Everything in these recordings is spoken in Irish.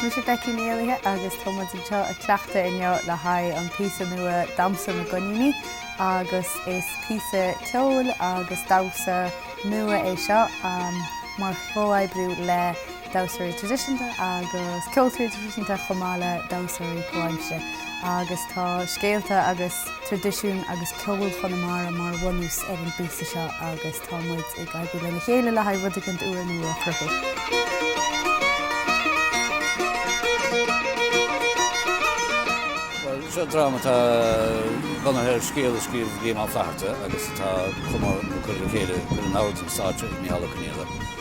Is mise Becky Ní Éallaithe agus tá muid anseo ag cleachtadh inniu le haghaidh an píosa nua Damhsa na gCoiníní agus is píosa ceoil agus damhsa nua é seo mar chomhoibriú le damhsóirí traidisiúnta agus ceoltóirí traidisiúnta chomh maith le damhsóirí comhaimsire agus tá scéalta agus traidisiún agus ceol Chonamara mar bhunús ar an bpíosa seo agus tá muid ag oibriú lena chéile le haghaidh rud éicint úr nua a chruthú. Bhuel, seo dráma atá bunaithe ar scéal a scríobh Liam Ó Flaithearta agus atá chomh mór ag cur le chéile curtha in ord don stáitse ag Micheál Ó Conghaile.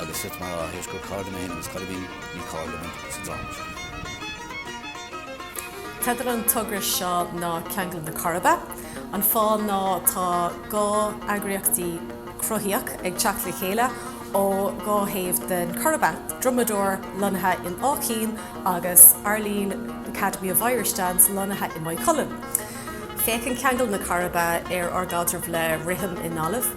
agus silt mar fháth th'éis gur cairde mé féin agus Coill a bhí ní cairde muid sa dráma seo. Teideal an togra seo ná Ceangal na Coiribe. An fáth ná tá dhá eagraíochtaí cruthaíoch ag teacht le chéile ó dhá thaobh den Choiribe, Drumadore lonnaithe in Áth Cinn agus Arlene Academy of Irish Dance lonnaithe i Maigh Cuilinn. Féachann Ceangal na Coiribe ar ár gcaidreamh le rithim i nGaillimh.